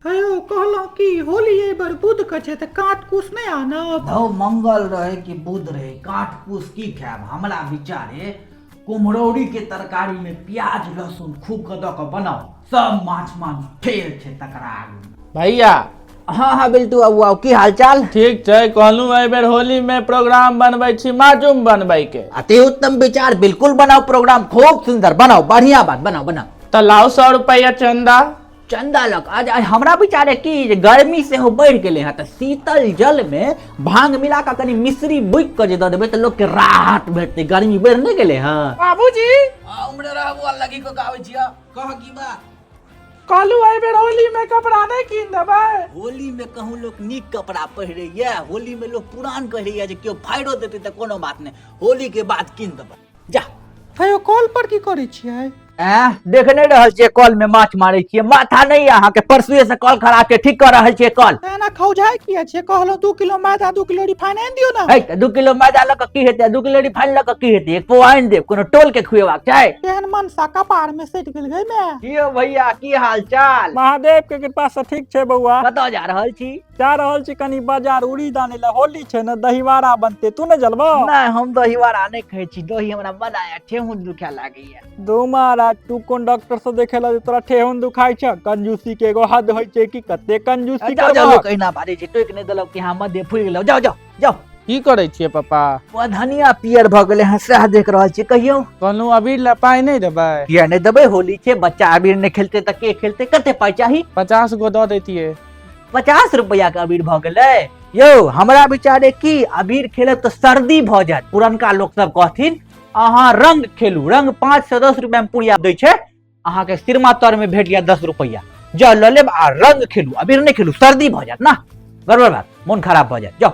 hello कहलहुँ कि होली एहि बेर बुध के छै तऽ काट कुछ नहि आनब धौ मंगल रहे कि बुध रहे काट कुस की खायब हमरा विचारे कुम्हरौरी के तरकारी में प्याज लहसुन खूब के दऽ के बनाओ सब माछ मांस फेर छै तकरा आगू भैया हँ हँ बिल्टू आउ आउ की हालचाल ठीक छै कहलहुँ एहि बेर होली में प्रोग्राम बनबै छी माजूम बनबै के अति उत्तम विचार बिल्कुल बनाओ प्रोग्राम खूब सुंदर बनाओ बढ़िया बात बनाओ बनाओ तऽ लाउ सौ रुपैया चंदा चंदा लक आज आज हमरा विचारे कि जे गर्मी से हो बढ़ि गेलै हँ तऽ शीतल जल मे भांग मिला कऽ कनि मिश्री बुकि कऽ जे दऽ देबै तऽ लोकके राहत भेटतै गर्मी बढ़ि नहि गेलै हँ बाबूजी हमरा रहबो लगी को गावे छिया कह की बा कहलू एहि बेर होली में कपड़ा नहीं कीन देबै होली में कहूँ लोग नीक कपड़ा पहिरे या होली में लोग पुरान पहिरे या जे केओ फाड़ो देते तऽ कोनो बात नहीं होली के बाद कीन देबै जा कहियो कॉल पर की करै छियै एं, देख नहीं रहल छियै कॉल में माछ मारे छियै माथा नहीं अहाँ के परसुए से कॉल खराब छै ठीक कर रहल छियै कॉल एना खौझाय किया छियै कहलहुँ दू किलो मैदा दू किलो रिफाइन आनि दियौ ने है तऽ दू किलो मैदा लऽ कऽ की हेतै दू किलो रिफाइन लऽ कऽ की हेतै एक पो आनि देब कोनो टोल के खुएबाक छै एहन मनसा कपार में सटि गेल गै माय की यौ भैया की हाल चाल महादेव के कृपा से ठीक छै बौआ कतऽ जा रहल छी जा रहल छी कनी बाजार उड़ी दाने ले होली छै ने दहीवारा बनते तू ने जलबो नहि हम दही वड़ा नहि खाइ छी दही हमरा बड़ा या ठेहुन दुखा लागैया दो महाराज तू कोन डॉक्टर से देखे ला जे तोरा ठेहुन दुखाइ छ कंजूसी के एगो हद होइ छै कि कते कंजूसी जाओ जाओ करबहक लोक अहिना बाजै छै टोकि नहि देलक कि अहाँ मध्य फुलि गेलहुँ जाओ जाओ जाओ की करै छियै पापा ओ धनिया पियर भऽ गेलै हँ सएह देख रहल छी कहियौ कहलहुँ अभी लए पाइ नहि देबै किया नहि देबै होली छै बच्चा अबीर नहि खेलते तऽ के खेलते कते पाइ चाही पचास गो दऽ दैतियै पचास रुपया के अबीर भऽ गेलै यौ हमरा विचारे की अबीर खेलब तऽ सर्दी भऽ जायत पुरनका लोक सब कहथिन अहाँ रंग खेलू रंग पाँच से दस रुपया मे पुड़िया दै छै अहाँ के सिरमा तर में भेट गया दस रुपया जाओ लऽ लेब आ रंग खेलू अबीर नहीं खेलू सर्दी भऽ जायत ना गड़बड़ बात मोन खराब भऽ जायत जाओ